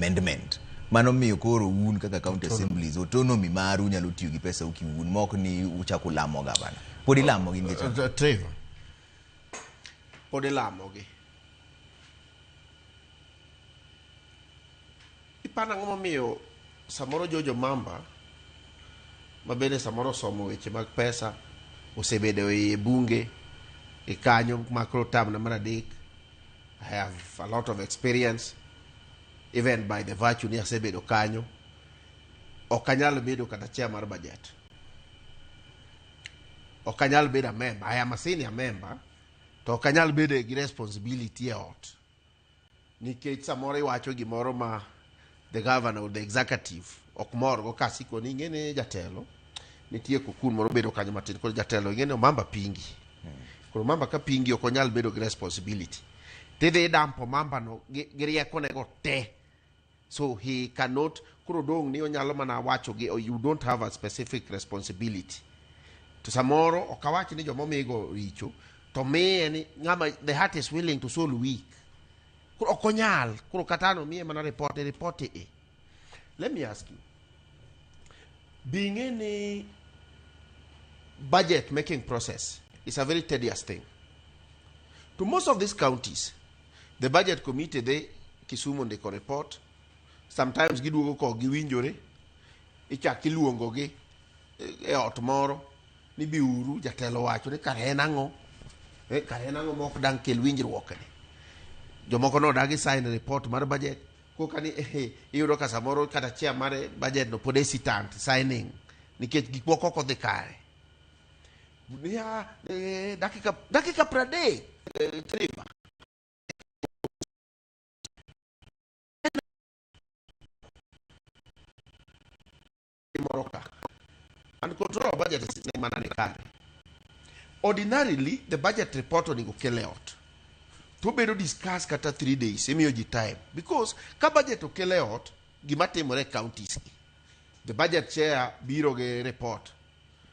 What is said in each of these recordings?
amendment mano miyo koro un kaka county assemblies autonomy maru nyalo tiyo gi pesa u kiun mok ni uchak ulamo gavana pod ilamo gi nikech ang'o? Trevor. pod ilamogi ipano ang'o momiyo samoro jojo mamba ma bende samoro osomo weche mag pesa osebedo e bunge e kanyo makro tamna mar adek i have a lot of experience even by the virtue ni asebedo kanyo ok anyal bedo kata chair mar budget ok anyal bedo a member i am a senior member to ok anyal bedo gi responsibility e ot nikech samoro iwacho gimoro ma the governor or the executive ok morgo kasikoni ing'e ni jatelo nitie kukun moro bedo kanyo matin koro jatelo ing'e ni omamba pingi koro omamba ka pingi ok onyal bedo gi responsibility tidhi idampo omambano gi gi riekonego te so he cannot koro dong' ni onyalo mana wacho gi oh, you don't have a specific responsibility to samoro ok awach ni joma omigo richo to miye ni ng'ama the heart is willing to soul weak koro ok onyal koro kata an omiye mana ripot iripot i Let me ask you. Be in any budget making process is a very tedious thing. To most of these counties, the budget committee they Kisumu ndiko report, sometimes giduogo ko giwinjore, ichak iluongogi e- e ot moro ni biuru jatelo wacho ni kare en ang'o e, kare en ang'o mok dang' kel winjruokni jomoko nodagi sign report mar budget koka ni eh, iyudo ka samoro kata chia mar budget no pod hesitant signing nikech gik moko ok odhi kare niya eh, dakika dakika pradek eh, trima ịmụrụ ka and control of budget is n'ịma na nịkarị ordinarily the budget report on ikele ot to bedo discuss kata three days imiyo ji time because ka budget okele ot gima timore e counties gi the budget chair biro gi report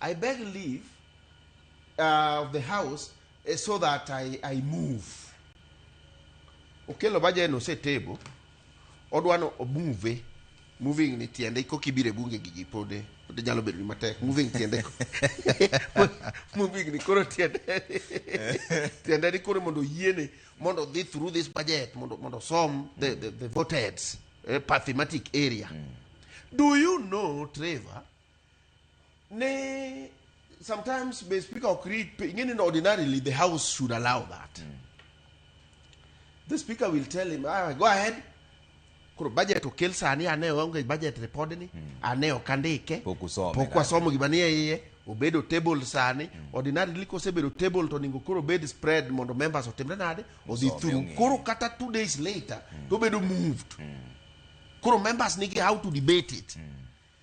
I beg leave uh, of the house eh, so that I, I move. Okelo baje no se table. Odwano move. Moving ni tiende ko kibire bunge gigi pode. Pode jalo bedo ni matek. Moving tiende. moving ni koro tiende. tiende ni koro mondo yiene mondo dhi through this budget mondo mondo som the the, the voted uh, eh, pathematic area. Mm. Do you know Trevor? Nay, sometimes may speaker or create, meaning ordinarily the house should allow that. Mm. The speaker will tell him, ah, go ahead. Koro budget okel sani ane onge budget report ni hmm. ane ok andike pok wasomo gima nie iye obedo table sani hmm. ordinarily kosebedo table to onego koro bed spread mondo members otimre nade odhi through koro kata two days later hmm. to obedo moved koro members nigi how to debate it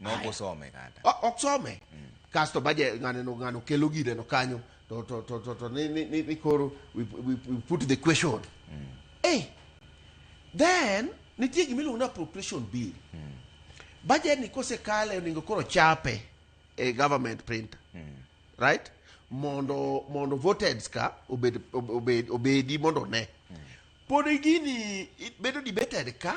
Ma ok Aya. osome kata. O- ok some kasto baje ng'aneno ng'ano kelo gireno kanyo to, to, to, to, to ni, ni, ni, ni koro we, we, we put the question hey, then nitie gima iluongo ni appropriation bill budget ni kosekale onego koro chape e government printer right mondo mondo voted ka obed, obed, obedi mondo one pod gini i- bedo debated ka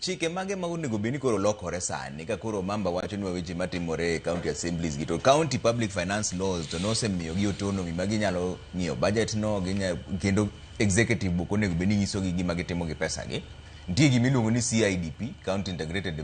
chike mage ma onego bed ni koro lokore sani ka koro mamba wacho ni weche matimore e county assemblies gi to county public finance laws to nosemiyogi autonomy ma ginyalo ng'iyo budget no ginya, kendo executive book onego bed ni nyisogi gima gitimo gi pesa gi nitie gima iluongo ni CIDP county integrated development